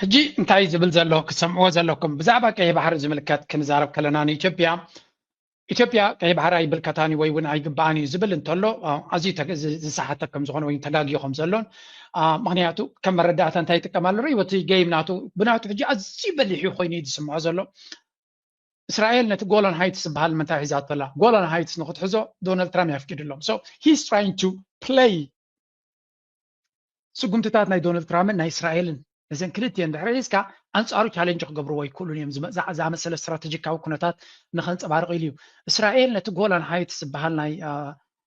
ሕጂ እንታይ እዩ ዝብል ዘሎ ክትሰምዕዎ ዘለኩም ብዛዕባ ቀይሕ ባሕሪ ዝምልከት ክንዛረብ ከለና ንኢትዮጵያ ኢትዮጵያ ቀይሕ ባሕሪ ኣይብልከታን እዩ ወይ እውን ኣይግባኣን እዩ ዝብል እንተሎ ኣዝዩ ዝሰሓተ ከም ዝኾነ ወይ ተጋጊዮ ከም ዘሎን ምክንያቱ ከም መረዳእታ እንታይ ይጥቀም ኣሎ ርኢዎ እቲ ገይም ናቱ ብናቱ ሕጂ ኣዝዩ በሊሕ እዩ ኮይኑ እዩ ዝስምዖ ዘሎ እስራኤል ነቲ ጎሎን ሃይትስ ዝበሃል ምንታይ ሒዛቶ ኣላ ጎሎን ሃይትስ ንክትሕዞ ዶናልድ ትራምፕ የፍቂድሎም ሶ ሂስ ትራይንግ ቱ ፕለይ ስጉምትታት ናይ ዶናልድ ትራምፕን ናይ እስራኤልን ነዘን ክልቲኤን ድሕሪ ሒዝካ ኣንጻሩ ቻሌንጅ ክገብርዎ ኣይክእሉን እዮም ዝኣመሰለ ስትራተጂካዊ ኩነታት ንኸንጸባርቕ ኢሉ እዩ። እስራኤል ነቲ ጎላን ሃይትስ ዝበሃል ናይ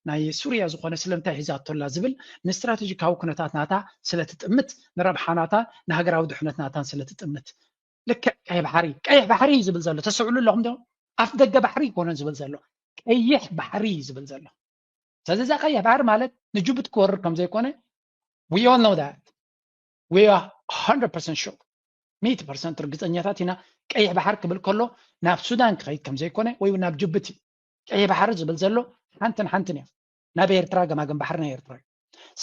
ናይ ሱርያ ዝኾነ ስለምንታይ ሒዛቶ ኣላ ዝብል ንስትራተጂካዊ ኩነታት ናታ ስለ ትጥምት ንረብሓ ናታን ንሃገራዊ ድሕነት ናታን ስለ ትጥምት ልክዕ ቀይሕ ባሕሪ ቀይሕ ባሕሪ እዩ ዝብል ዘሎ ተስዕሉ ኣለኹም ዶ ኣፍ ደገ ባሕሪ ይኮነን ዝብል ዘሎ ቀይሕ ባሕሪ እዩ ዝብል ዘሎ ስለዚ እዛ ቀይሕ ባሕሪ ማለት ንጅቡቲ ክወርር ከም ዘይኮነ we all know that we are 100% sure ሚእቲ ፐርሰንት ርግፀኛታት ኢና ቀይሕ ባሕሪ ክብል ከሎ ናብ ሱዳን ክኸይድ ከም ዘይኮነ ወይ እውን ናብ ጅቡቲ ቀይሕ ባሕሪ ዝብል ዘሎ ሓንትን ሓንትን እዮም ናብ ኤርትራ ገማግም ባሕሪ ናይ ኤርትራ እዩ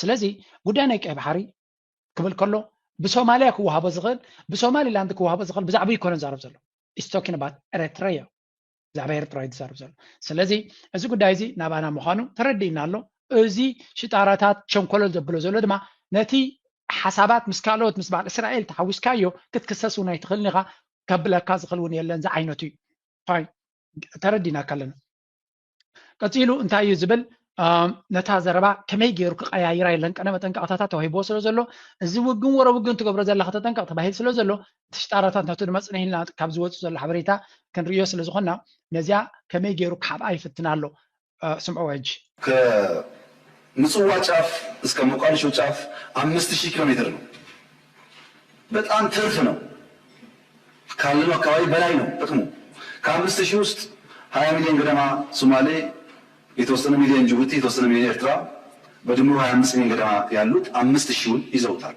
ስለዚ ጉዳይ ናይ ቀይ ባሕሪ ክብል ከሎ ብሶማልያ ክወሃቦ ዝኽእል ብሶማሊላንድ ክወሃቦ ዝኽእል ብዛዕባ ይኮነ ዛረብ ዘሎ ኢስቶኪን ባት ኤረትረዮ ብዛዕባ ኤርትራ እዩ ዝዛረብ ዘሎ ስለዚ እዚ ጉዳይ እዚ ናባና ምዃኑ ተረዲእና ኣሎ እዚ ሽጣራታት ቸንኮለል ዘብሎ ዘሎ ድማ ነቲ ሓሳባት ምስ ካልኦት ምስ በዓል እስራኤል ተሓዊስካዮ ክትክሰስ እውን ኣይትኽእልን ኢኻ ከብለካ ዝኽእል እውን የለን ዝዓይነቱ እዩ ፋይ ተረዲና ከለና ቀፂሉ እንታይ እዩ ዝብል ነታ ዘረባ ከመይ ገይሩ ክቀያይራ የለን ቀነ መጠንቀቕታታት ተዋሂቦ ስለ ዘሎ እዚ ውግን ወረ ውግን ትገብሮ ዘለካ ተጠንቀቕ ተባሂል ስለ ዘሎ እቲ ሽጣራታት ነቲ ድማ ጽንሕ ኢልና ካብ ዝወጽእ ዘሎ ሓበሬታ ክንርእዮ ስለ ዝኾንና ነዚኣ ከመይ ገይሩ ክሓብኣ ይፍትን ኣሎ ስምዕዎ ሕጂ። ከምጽዋ ጫፍ እስከ ሞቃዲሾ ጫፍ ኣምስት ሺህ ኪሎ ሜትር ነው በጣም ትርፍ ነው ካለነው አካባቢ በላይ ነው ጥቅሙ ከአምስት ሺህ ውስጥ ሀያ ሚሊዮን ገደማ ሱማሌ የተወሰነ ሚሊዮን ጅቡቲ የተወሰነ ሚሊዮን ኤርትራ በድምሩ ሀያ አምስት ሚሊዮን ገደማ ያሉት አምስት ሺውን ይዘውታል።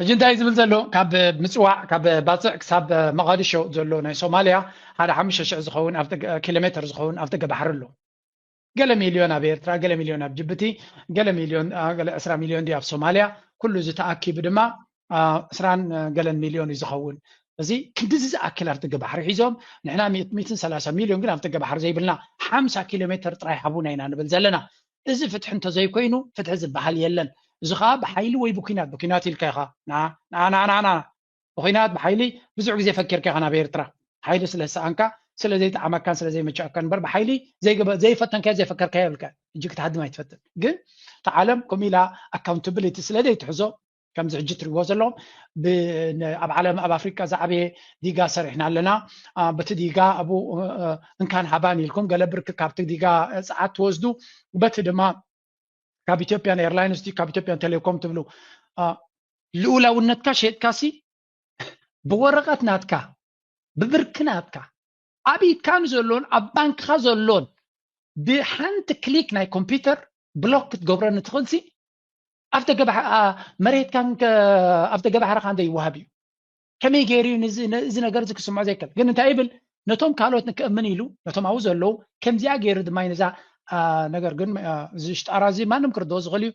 ሕጂ እንታይ ዝብል ዘሎ ካብ ምፅዋዕ ካብ ባፅዕ ክሳብ መቓድሾ ዘሎ ናይ ሶማልያ ሓደ ሓሙሽተ ሽሕ ዝኸውን ኪሎ ሜትር ዝኸውን ኣብ ጥገ ባሕሪ ኣሎ ገለ ሚልዮን ኣብ ኤርትራ ገለ ሚልዮን ኣብ ጅቡቲ ገለ ሚልዮን ገለ ዕስራ ሚልዮን ድዩ ኣብ ሶማልያ ኩሉ እዚ ተኣኪቡ ድማ ዕስራን ገለን ሚልዮን እዩ ዝኸውን እዚ ክንዲዚ ዝኣክል ኣብ ጥገ ባሕሪ ሒዞም ንሕና ሚትን ሰላሳ ሚልዮን ግን ኣብ ጥገ ባሕሪ ዘይብልና ሓምሳ ኪሎ ሜትር ጥራይ ሃቡና ኢና ንብል ዘለና እዚ ፍትሒ እንተዘይኮይኑ ፍትሒ ዝበሃል የለን እዚ ከዓ ብሓይሊ ወይ ብኩናት ብኩናት ኢልካ ኢካ ናናናና ብኩናት ብሓይሊ ብዙሕ ግዜ ፈኪርካ ኢካ ናብ ኤርትራ ሓይሊ ስለ ዝሰኣንካ ስለ ዘይጠዓመካን ስለ ዘይመቸኣካን እምበር ብሓይሊ ዘይፈተንካዮ ዘይፈከርካዮ ኢልካ ሕጂ ክትሃድም ኣይትፈትን ግን እቲ ዓለም ከምኡ ኢላ ኣካውንታብሊቲ ስለ ዘይትሕዞ ከምዚ ሕጂ እትሪእዎ ዘለኹም ኣብ ዓለም ኣብ ኣፍሪቃ ዝዓበየ ዲጋ ሰሪሕና ኣለና በቲ ዲጋ ኣብኡ እንካን ሃባን ኢልኩም ገለ ብርኪ ካብቲ ዲጋ ፀዓት ትወስዱ በቲ ድማ ካብ ኢትዮጵያን ኤርላይንስ ካብ ኢትዮጵያን ቴሌኮም ትብሉ ልኡላውነትካ ሸጥካ ሲ ብወረቐት ናትካ ብብርኪ ናትካ ኣብ ኢድካ ንዘሎን ኣብ ባንክኻ ዘሎን ብሓንቲ ክሊክ ናይ ኮምፒውተር ብሎክ ክትገብረኒ ትኽእልሲ ኣብተ መሬትካ ኣብተ ገባሕርካ እንተ ይወሃብ እዩ ከመይ ገይሩ እዚ ነገር እዚ ክስምዖ ዘይከል ግን እንታይ ይብል ነቶም ካልኦት ንክእምን ኢሉ ነቶም ኣብኡ ዘለዉ ከምዚኣ ገይሩ ድማ ነዛ ነገር ግን እዚ ሽጣራ እዚ ማንም ክርድኦ ዝኽእል እዩ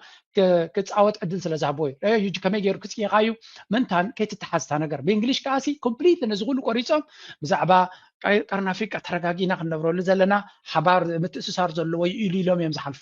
ክፃወት ዕድል ስለ ዝሃቦ እዩ ከመይ ገይሩ ክፅይኻ እዩ ምንታን ከይትተሓዝታ ነገር ብእንግሊሽ ከዓ ሲ ኮምፕሊት ነዚ ኩሉ ቆሪፆም ብዛዕባ ቀርኒ ኣፍሪቃ ተረጋጊና ክንነብረሉ ዘለና ሓባር ምትእስሳር ዘለዎ እዩ ኢሉ ኢሎም እዮም ዝሓልፉ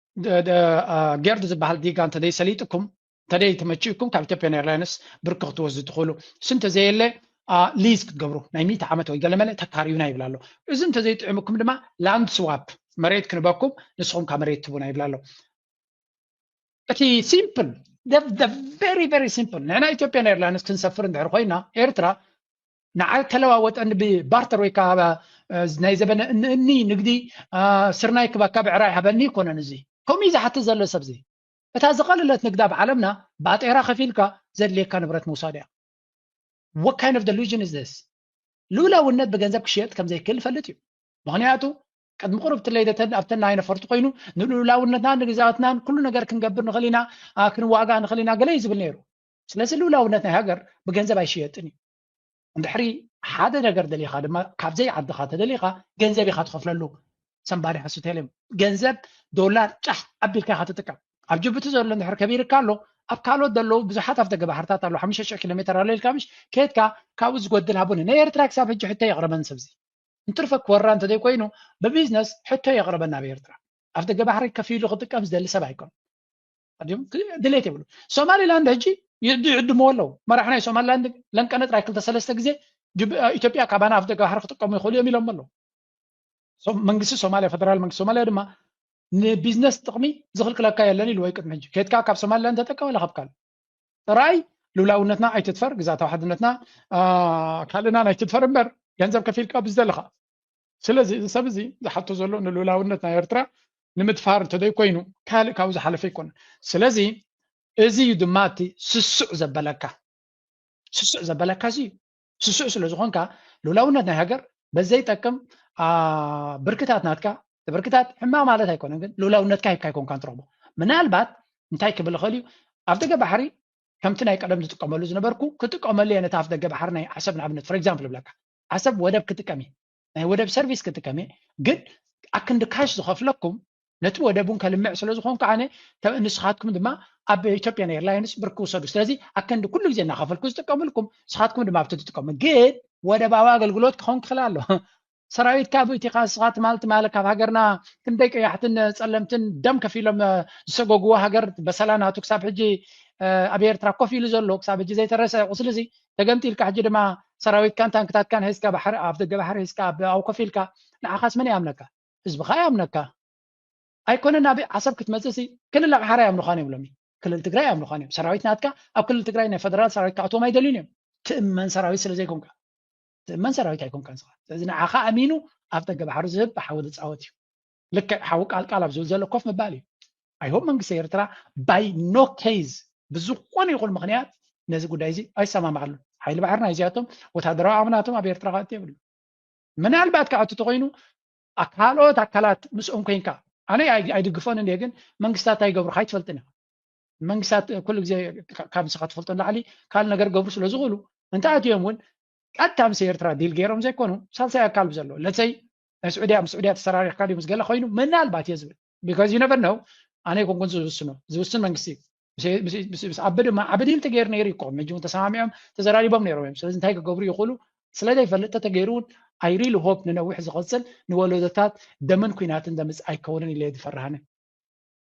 ጌርድ ዝበሃል ዲጋ እንተደይ ሰሊጥኩም እንተደይ ተመቺእኩም ካብ ኢትዮጵያን ኤርላይንስ ብርኪ ክትወስዱ ትኽእሉ እሱ እንተዘየለ ሊዝ ክትገብሩ ናይ ሚእቲ ዓመት ወይ ገለመለ ተካርዩና ይብላ ኣሎ እዚ እንተዘይጥዕምኩም ድማ ላንድ ስዋፕ መሬት ክንበኩም ንስኹም ካብ መሬት ትቡና ይብላ ኣሎ እቲ ሲምፕል ቨሪ ቨሪ ሲምፕል ንሕና ኢትዮጵያን ኤርላይንስ ክንሰፍር እንድሕር ኮይና ኤርትራ ንዓል ተለዋወጠኒ ብባርተር ወይ ከዓ ናይ ዘበነ እንእኒ ንግዲ ስርናይ ክብ ኣካብ ዕራይ ሃበኒ ይኮነን እዚ ከምኡ እዩ ዝሓትት ዘሎ ሰብዚ እታ ዝቐለለት ንግድ ኣብ ዓለምና ባጤራ ከፊልካ ዘድልየካ ንብረት ምውሳድ እያ what kind of delusion is this ልኡላውነት ብገንዘብ ክሽየጥ ከም ዘይክእል ይፈልጥ እዩ ምክንያቱ ቅድሚ ቅሩብ ትለይ ኣብተን ናይ ነፈርቲ ኮይኑ ንልኡላውነትናን ንግዛወትናን ኩሉ ነገር ክንገብር ንኽእል ኢና ክንዋጋ ንኽእል ኢና ገለ እዩ ዝብል ነይሩ ስለዚ ልኡላውነት ናይ ሃገር ብገንዘብ ኣይሽየጥን እዩ እንድሕሪ ሓደ ነገር ደሊኻ ድማ ካብዘይ ዓድኻ ተደሊኻ ገንዘብ ኢኻ ትኸፍለሉ ሰምባዲ ሓሱቴልም ገንዘብ ዶላር ጫሕ ኣቢልካ ኢኻ ትጥቀም ኣብ ጅቡቲ ዘሎ እንድሕር ከቢርካ ኣሎ ኣብ ካልኦት ዘለዉ ብዙሓት ኣብ ደገ ባሕርታት ኣሎ ሓሙሽተ ሽሕ ኪሎ ሜትር ኣሎ ኢልካ ምሽ ከየትካ ካብኡ ዝጎድል ሃቡኒ ንኤርትራ ክሳብ ሕጂ ሕቶ የቕረበን ሰብዚ እንትርፈ ክወራ እንተዘይኮይኑ ብቢዝነስ ሕቶ የቕረበን ናብ ኤርትራ ኣብ ደገ ባሕሪ ከፊሉ ክጥቀም ዝደሊ ሰብ ኣይኮን ድሌት የብሉ ሶማሊላንድ ሕጂ ይዕድምዎ ኣለዉ መራሒ ናይ ሶማሊላንድ ለንቀነ ጥራይ ክልተ ሰለስተ ግዜ ኢትዮጵያ ካባና ኣፍ ደገ ባሕሪ ክጥቀሙ ይኽእሉ እዮም ኢሎም ኣለዉ መንግስቲ ሶማሊያ ፈደራል መንግስቲ ሶማሊያ ድማ ንቢዝነስ ጥቕሚ ዝኽልክለካ የለን ኢሉ ወይ ቅድሚ ሕጂ ከትካ ካብ ሶማሊላንድ ተጠቀም ኣላ ካብ ካልእ ጥራይ ልውላውነትና ኣይትድፈር ግዛታዊ ሓድነትና ካልእናን ኣይትድፈር እምበር ገንዘብ ከፊልካ ብዝደለኻ ስለዚ እዚ ሰብ እዚ ዝሓቶ ዘሎ ንልኡላውነት ናይ ኤርትራ ንምድፋር እንተዘይኮይኑ ካልእ ካብኡ ዝሓለፈ ኣይኮነን። ስለዚ እዚ እዩ ድማ እቲ ስሱዕ ዘበለካ ስሱዕ ዘበለካ እዚ እዩ። ስሱዕ ስለ ዝኾንካ ልኡላውነት ናይ ሃገር በዘይጠቅም ብርክታት ናትካ ብርክታት ሕማቕ ማለት ኣይኮነን ግን ልኡላውነትካ ሂብካ ኣይኮንካ ትረኽቦ ምናልባት እንታይ ክብል ይኽእል እዩ ኣብ ደገ ባሕሪ ከምቲ ናይ ቀደም ዝጥቀመሉ ዝነበርኩ ክጥቀመሉ እየ ነቲ ኣፍ ደገ ባሕሪ ናይ ዓሰብ ንኣብነት ፎር ኤግዛምፕል ይብለካ ዓሰብ ወደብ ክጥቀም እየ ናይ ወደብ ሰርቪስ ክጥቀም እየ ግን ኣክንዲ ካሽ ዝኸፍለኩም ነቲ ወደብ እውን ከልምዕ ስለ ዝኾንኩ ኣነ ንስኻትኩም ድማ ኣብ ኢትዮጵያን ኤርላይንስ ብር ክውሰዱ ስለዚ ኣክንዲ ኩሉ ግዜ እናኸፈልኩ ዝጥቀምልኩም ንስኻትኩም ድማ ኣብቲ ትጥቀሙ ግን ወደባዊ ኣገልግሎት ክኸውን ክኽእል ኣሎ ሰራዊት ካብ እቲኻ ንስኻ ትማል ትማል ካብ ሃገርና ክንደይ ቀያሕትን ፀለምትን ደም ከፍ ኢሎም ዝሰጎግዎ ሃገር በሰላ ናቱ ክሳብ ሕጂ ኣብ ኤርትራ ኮፍ ኢሉ ዘሎ ክሳብ ሕጂ ዘይተረሰ ቁስሊ እዚ ተገምጢልካ ሕጂ ድማ ሰራዊትካን ታንክታትካን ሒዝካ ባሕሪ ኣብ ደገ ባሕሪ ሒዝካ ኣብኡ ኮፍ ኢልካ ንዓኻስ መን ይኣምነካ ህዝብኻ ይኣምነካ ኣይኮነን ናብ ዓሰብ ክትመፅእ ሲ ክልል ኣምሓራ ይኣምኑኻን እዮም ሎሚ ክልል ትግራይ ይኣምኑኻን እዮም ሰራዊት ናትካ ኣብ ክልል ትግራይ ናይ ፈደራል ሰራዊት ክኣትዎም ኣይደልዩን እዮም ትእመን ሰራዊት ስለ ዘይኮንካ ትእመን ሰራዊት ኣይኮንካን ስኻ ስለዚ ንዓኻ ኣሚኑ ኣብ ደገ ባሕሪ ዝህብ ብሓዊ ዝፃወት እዩ ልክዕ ሓው ቃልቃል ኣብ ዝብል ዘሎ ኮፍ ምባል እዩ ኣይሆብ መንግስቲ ኤርትራ ባይ ኖ ኬዝ ብዝኾነ ይኹን ምክንያት ነዚ ጉዳይ እዚ ኣይሰማማዓሉ ሓይሊ ባሕሪ ናይ እዚኣቶም ወታደራዊ ኣምናቶም ኣብ ኤርትራ ክኣቱ የብሉ ምናልባት ክኣቱ ተኮይኑ ካልኦት ኣካላት ምስኦም ኮንካ ኣነ ኣይድግፎን እንደ ግን መንግስታት እንታይ ይገብሩ ካይትፈልጥን ኢኻ መንግስታት ኩሉ ግዜ ካብ ንስኻ ትፈልጦ ንላዕሊ ካልእ ነገር ገብሩ ስለ ዝኽእሉ እንተኣትዮም እውን ቀጥታ ምስ ኤርትራ ዲል ገይሮም ዘይኮኑ ሳልሳይ ኣካል ብዘለዎ ለሰይ ናይ ስዑድያ ምስ ስዑድያ ተሰራሪሕካ ድዩ ምስ ገለ ኮይኑ ምናልባት እየ ዝብል ቢካዝ ዩ ነቨር ነው ኣነ ይኮንኩን ዝውስኖ ዝውስን መንግስቲ እዩ ምስ ዓቢ ድማ ዓቢ ዲል ተገይሩ ነይሩ ይኮ መጂ እውን ተሰማሚዖም ተዘራሪቦም ነይሮም እዮም ስለዚ እንታይ ክገብሩ ይኽእሉ ስለ ዘይፈልጥ ተተገይሩ እውን ኣይ ሪሊ ሆፕ ንነዊሕ ዝቐፅል ንወለዶታት ደምን ኩናትን ዘምፅእ ኣይከውንን ኢለ ዝፈርሃነ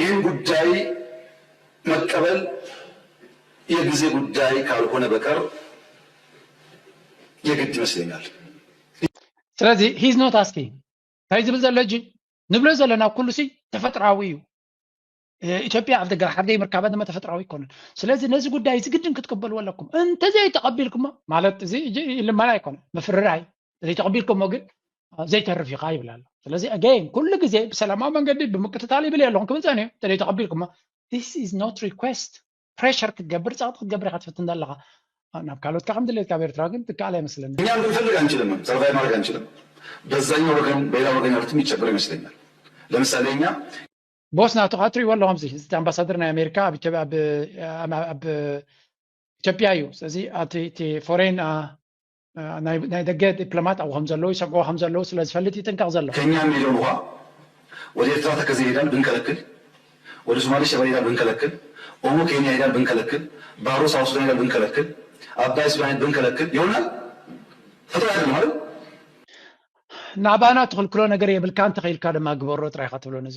ይህ ጉዳይ መቀበል የግዜ ጉዳይ ካልሆነ በቀር የግድ ይመስለኛል። ስለዚ ሂዝ ኖት ኣስኪንግ እንታይ ዝብል ዘሎ ሕጂ ንብሎ ዘለና ኩሉ ሲ ተፈጥራዊ እዩ ኢትዮጵያ ኣብ ደገ ሓደይ ምርካባ ድማ ተፈጥራዊ ኣይኮነን ስለዚ ነዚ ጉዳይ እዚ ግድን ክትቅበልዎ ኣለኩም እንተዘይተቐቢልኩሞ ማለት እዚ ልመና ኣይኮነን ምፍርራይ ዘይተቐቢልከሞ ግን ዘይተርፍ ኢኻ ይብል ኣሎ ስለዚ ኣገይን ኩሉ ግዜ ብሰላማዊ መንገዲ ብምቅትታል ይብል እየ ኣለኹም ክብል ፀኒሑ እንተዘይተቐቢልኩሞ ስ ኢዝ ኖት ሪኩስት ፕሬሽር ክትገብር ፀቕጢ ክትገብር ኢኻ ትፍትን ዘለኻ ናብ ካልኦትካ ከም ድሌት ካብ ኤርትራ ግን ትከኣል ኣይመስለኒ እኛ ብንፈልግ ኣንችልም ሰርቫይ ማድረግ ኣንችልም በዛኛው ወገን በሌላ ወገን ያሉት የሚቸገሩ ይመስለኛል ለምሳሌ እኛ ቦስ ናቱ ከዓ ትሪእዎ ኣለኹም እዚ ኣምባሳደር ናይ ኣሜሪካ ኣብ ኢትዮጵያ እዩ ስለዚ እቲ ፎሬን ናይ ደገ ዲፕሎማት ኣብኡ ከም ዘለዉ ይሰግዑ ከም ዘለዉ ስለ ዝፈልጥ ይጥንቀቕ ዘሎ። ከኛ ን ኢሎም እዃ ወደ ኤርትራ ተከዘ ይሄዳል ብንከለክል ወደ ሶማሌ ሸበሌ ይሄዳል ብንከለክል ኦሞ ኬንያ ይሄዳል ብንከለክል ባሮ ሳውዝ ሱዳን ይሄዳል ብንከለክል ኣባይ ሱዳን ይሄዳል ብንከለክል ይሆናል ፈተው ኣይደለም አይደል ናባና ትኽልክሎ ነገር የብልካን ተኺኢልካ ድማ ግበሮ ጥራይ ኢኻ ትብሎ ነዚ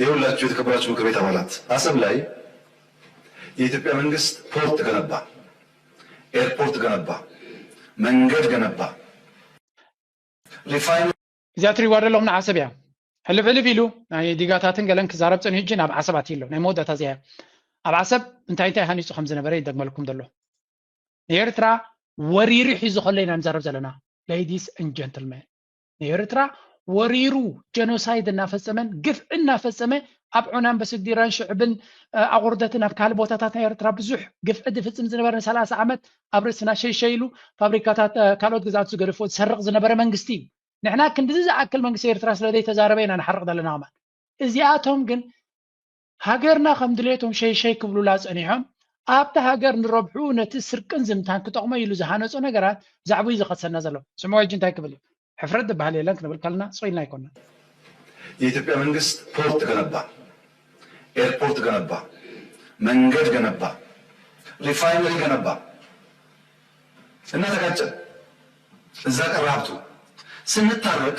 የውላችሁ የተከበራችሁ ምክር ቤት አባላት አሰብ ላይ የኢትዮጵያ መንግስት ፖርት ገነባ፣ ኤርፖርት ገነባ፣ መንገድ ገነባ፣ ሪፋይን እዚኣ ትሪእዋ ዘለኹም ንዓሰብ እያ ሕልፍ ሕልፍ ኢሉ ናይ ዲጋታትን ገለን ክዛረብ ፅን ህጂ ናብ ዓሰብ ኣትዩ ኣሎ ናይ መወዳእታ እዚኣ ኣብ ዓሰብ እንታይ እንታይ ሃኒፁ ከም ዝነበረ ይደግመልኩም ዘሎ ንኤርትራ ወሪሩ ሒዙ ከሎ ኢና ንዛረብ ዘለና ሌዲስ ን ጀንትልመን ንኤርትራ ወሪሩ ጀኖሳይድ እናፈፀመን ግፍዒ እናፈፀመ ኣብ ዑናን በስዲራን ሽዕብን ኣቑርደትን ኣብ ካልእ ቦታታት ናይ ኤርትራ ብዙሕ ግፍዒ ዝፍፅም ዝነበረ ንሰላሳ ዓመት ኣብ ርእስና ሸይሸይ ኢሉ ፋብሪካታት ካልኦት ግዝኣት ዝገደፎ ዝሰርቕ ዝነበረ መንግስቲ እዩ ንሕና ክንድዚ ዝኣክል መንግስቲ ኤርትራ ስለ ዘይተዛረበ ኢና ንሓርቕ ዘለና ኸማን እዚኣቶም ግን ሃገርና ከም ድሌቶም ሸይሸይ ክብሉላ ጸኒሖም፣ ኣብታ ሃገር ንረብሕኡ ነቲ ስርቅን ዝምታን ክጠቕሞ ኢሉ ዝሃነጾ ነገራት ዛዕቡዩ ዝኸሰና ዘሎ። ስምዑ ሕጂ እንታይ ክብል እዩ። ሕፍረት ዝብሃል የለን ክንብል ከለና ሱቕ ኢልና ኣይኮናን። የኢትዮጵያ መንግስት ፖርት ገነባ፣ ኤርፖርት ገነባ፣ መንገድ ገነባ፣ ሪፋይነሪ ገነባ እና ተጋጨን እዛ ቀራብቱ ስንታረቅ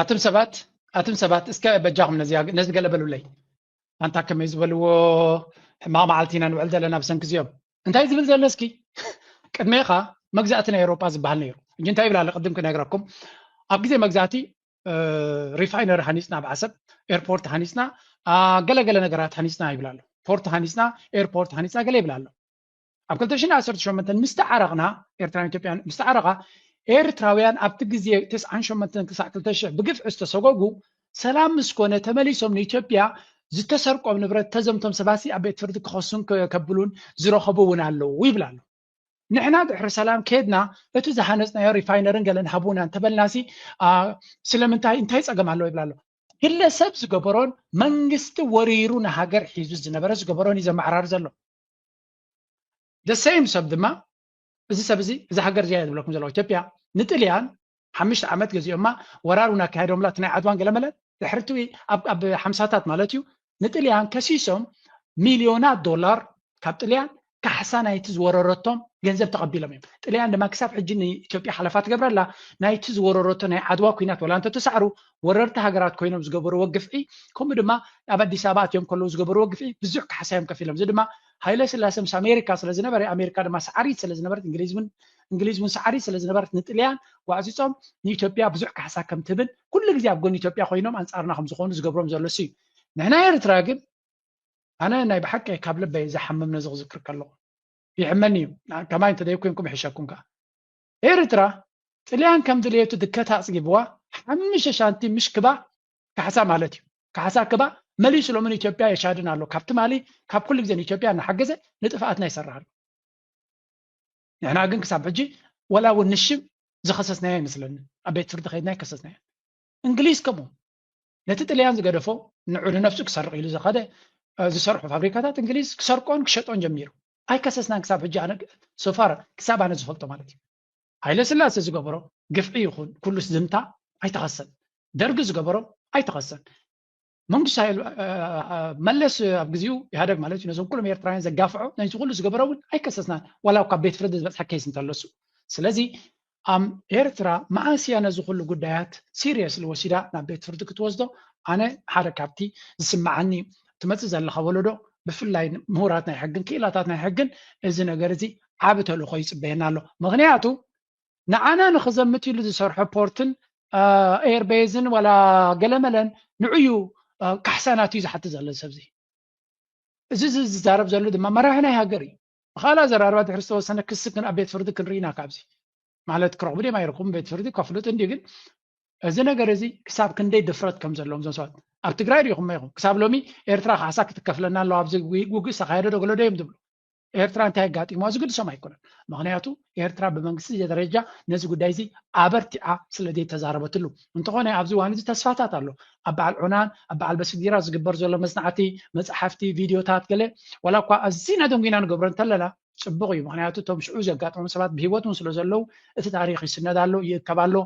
ኣቱም ሰባት ኣቱም ሰባት እስከ በጃኹም ነዚ ገለ በሉለይ ኣንታ ከመይ ዝበልዎ ሕማቕ መዓልቲ ኢና ንውዕል ዘለና ብሰንኪ እዚኦም እንታይ ዝብል ዘሎ እስኪ ቅድሜኻ መግዛእቲ ናይ ኤውሮጳ ዝበሃል ነይሩ እጂ እንታይ ይብል ኣሎ ቅድም ክነግረኩም ኣብ ግዜ መግዛእቲ ሪፋይነሪ ሃኒፅና ኣብ ዓሰብ ኤርፖርት ሃኒፅና ገለገለ ነገራት ሃኒፅና ይብል ኣሎ ፖርት ሃኒፅና ኤርፖርት ሃኒፅና ገለ ይብል ኣሎ ኣብ ክልተ ሽሕን ዓሰርተ ሸሞንተን ምስ ተዓረቕና፣ ኤርትራን ኢትዮጵያን ምስ ተዓረቓ፣ ኤርትራውያን ኣብቲ ግዜ ተስዓን ሸሞንተን ክሳዕ ክልተ ሽሕ ብግፍዒ ዝተሰጎጉ፣ ሰላም ምስ ኮነ ተመሊሶም ንኢትዮጵያ ዝተሰርቆም ንብረት ተዘምቶም ሰባትሲ ኣብ ቤት ፍርዲ ክኸሱን ከብሉን ዝረኸቡ እውን ኣለዉ ይብል ኣሎ። ንሕና ድሕሪ ሰላም ከድና እቲ ዝሃነጽናዮ ሪፋይነርን ገለን ሃቡና እንተበልናሲ ስለምንታይ እንታይ ጸገም ኣለዎ ይብል ኣሎ። ግለሰብ ዝገበሮን መንግስቲ ወሪሩ ንሃገር ሒዙ ዝነበረ ዝገበሮን እዩ ዘመዓራሪ ዘሎ። the same ሰብ ድማ እዚ ሰብ እዚ እዚ ሃገር እዚኣ ዝብለኩም ዘለኹ ኢትዮጵያ ንጥልያን ሓምሽተ ዓመት ገዚኦማ ወራር እውን ኣካየዶምላ እቲ ናይ ዓድዋን ገለመለን ድሕሪ እቲ ኣብ ሓምሳታት ማለት እዩ ንጥልያን ከሲሶም ሚልዮናት ዶላር ካብ ጥልያን ካሕሳ ናይቲ ዝወረረቶም ገንዘብ ተቐቢሎም እዮም ጥልያን ድማ ክሳብ ሕጂ ንኢትዮጵያ ሓለፋ ትገብረላ ናይቲ ዝወረረቶ ናይ ዓድዋ ኩናት ወላ እንተተሳዕሩ ወረርቲ ሃገራት ኮይኖም ዝገበርዎ ግፍዒ ከምኡ ድማ ኣብ ኣዲስ ኣበባ ኣትዮም ከለዉ ዝገበርዎ ግፍዒ ብዙሕ ካሕሳ እዮም ከፊሎም እዚ ድማ ሃይለ ስላሰ ምስ ኣሜሪካ ስለ ዝነበረ ኣሜሪካ ድማ ሰዓሪት ስለ ዝነበረት እንግሊዝ እውን እንግሊዝ እውን ሰዓሪት ስለ ዝነበረት ንጥልያን ዋዕፂፆም ንኢትዮጵያ ብዙሕ ካሕሳ ከም ትህብን ኩሉ ግዜ ኣብ ጎኒ ኢትዮጵያ ኮይኖም ኣንፃርና ከም ዝኾኑ ዝገብሮም ዘሎ እዩ ንሕና ኤርትራ ግን ኣነ ናይ ብሓቂ ካብ ልበይ ዝሓምም ነዚ ክዝክር ከለኹ ይሕመኒ እዩ ከማይ እንተደይኮይንኩም ይሕሸኩም ከዓ ኤርትራ ጥልያን ከም ድልየቱ ድከት ኣጽጊብዋ ሓምሽተ ሻንቲ ምሽ ክባ ካሕሳ ማለት እዩ ካሕሳ ክባ መሊሱ ሎሚ ንኢትዮጵያ የሻድን ኣሎ ካብ ትማሊ ካብ ኩሉ ግዜ ንኢትዮጵያ እናሓገዘ ንጥፍኣትና ይሰርሕ ኣሎ ንሕና ግን ክሳብ ሕጂ ወላ እውን ንሽም ዝኸሰስናዮ ይመስለኒ ኣብ ቤት ፍርዲ ከይድና ይከሰስናዮ እንግሊዝ ከምኡ ነቲ ጥልያን ዝገደፎ ንዑ ንነፍሱ ክሰርቕ ኢሉ ዝኸደ ዝሰርሑ ፋብሪካታት እንግሊዝ ክሰርቆን ክሸጦን ጀሚሩ ኣይከሰስናን ክሳብ ሕጂ ኣነ so far ክሳብ ኣነ ዝፈልጦ ማለት እዩ ሃይለስላሰ ዝገበሮ ግፍዒ ይኹን ኩሉስ ዝምታ ኣይተኸሰን ደርጊ ዝገበሮ ኣይተኸሰን መንግስቱ ሃይል መለስ ኣብ ግዜኡ ኢህኣደግ ማለት እዩ ነዞም ኩሎም ኤርትራውያን ዘጋፍዖ ነዚ ኩሉ ዝገበሮ እውን ኣይከሰስናን ዋላ ካብ ቤት ፍርዲ ዝበፅሐ ኬስ እንተለሱ ስለዚ ኣም ኤርትራ መዓስ እያ ነዚ ኩሉ ጉዳያት ሲርየስሊ ወሲዳ ናብ ቤት ፍርዲ ክትወስዶ ኣነ ሓደ ካብቲ ዝስመዓኒ ትመጽእ ዘለኻ ወለዶ ብፍላይ ምሁራት ናይ ሕግን ክኢላታት ናይ ሕግን እዚ ነገር እዚ ዓቢ ተልእኾ ይጽበየና ኣሎ ምኽንያቱ ንዓና ንኽዘምት ኢሉ ዝሰርሖ ፖርትን ኤርቤዝን ዋላ ገለመለን ንዕዩ ካሕሳናት እዩ ዝሓትት ዘሎ ሰብዚ እዚ ዝዛረብ ዘሎ ድማ መራሒ ናይ ሃገር እዩ ብካልእ ኣዘራርባ ድሕሪ ዝተወሰነ ክሲ ግን ኣብ ቤት ፍርዲ ክንርኢ ኢና ካብዚ ማለት ክረኽቡ ድም ኣይረኽቡን ቤት ፍርዲ ከፍልጡ እንዲ ግን እዚ ነገር እዚ ክሳብ ክንደይ ድፍረት ከም ዘለዎም እዞም ሰባት ኣብ ትግራይ ሪኢኹም ኢኹም ክሳብ ሎሚ ኤርትራ ካሕሳ ክትከፍለና ኣለዋ ኣብዚ ውግእ ዝተካየደ ዶ ገለዶ እዮም ዝብሉ ኤርትራ እንታይ ኣጋጢምዋ ዝግድሶም ኣይኮነን ምክንያቱ ኤርትራ ብመንግስቲ ደረጃ ነዚ ጉዳይ እዚ ኣበርቲዓ ስለ ዘይተዛረበትሉ እንተኾነ ኣብዚ እዋን እዚ ተስፋታት ኣሎ ኣብ በዓል ዑናን ኣብ በዓል በስጊራ ዝግበር ዘሎ መጽናዕቲ መጽሓፍቲ ቪድዮታት ገለ ዋላ እኳ ኣዝና ደንጒና ንገብሮ እንተለና ጽቡቕ እዩ ምክንያቱ እቶም ሽዑ ዘጋጠሞም ሰባት ብሂወት እውን ስለ ዘለዉ እቲ ታሪኽ ይስነድ ኣሎ ይእከብ ኣሎ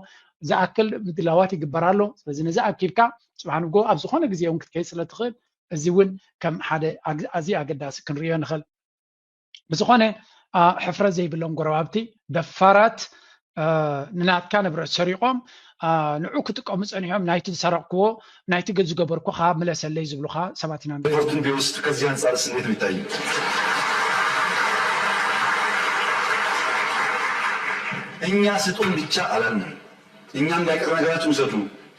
ዝኣክል ምድላዋት ይግበር ኣሎ ስለዚ ነዚ ኣኪብካ ጽባሕ ንጎ ኣብ ዝኾነ ግዜ እውን ክትከይድ ስለ ትኽእል እዚ እውን ከም ሓደ ኣዝዩ ኣገዳሲ ክንሪኦ ንኽእል ብዝኾነ ሕፍረት ዘይብሎም ጎረባብቲ ደፋራት ንናትካ ንብረት ሰሪቖም ንዑ ክጥቀሙ ፀኒሖም ናይቲ ዝሰረቕክዎ ናይቲ ዝገበርኩ ከዓ ምለሰለይ ዝብሉኻ ሰባት ኢና ሪፖርት እንዲወስድ ከዚህ አንፃር ስ እንዴት ነው ይታየው? እኛ ስጡን ብቻ አላልንም እኛ እንዳይቀር ነገራችሁ ውሰዱ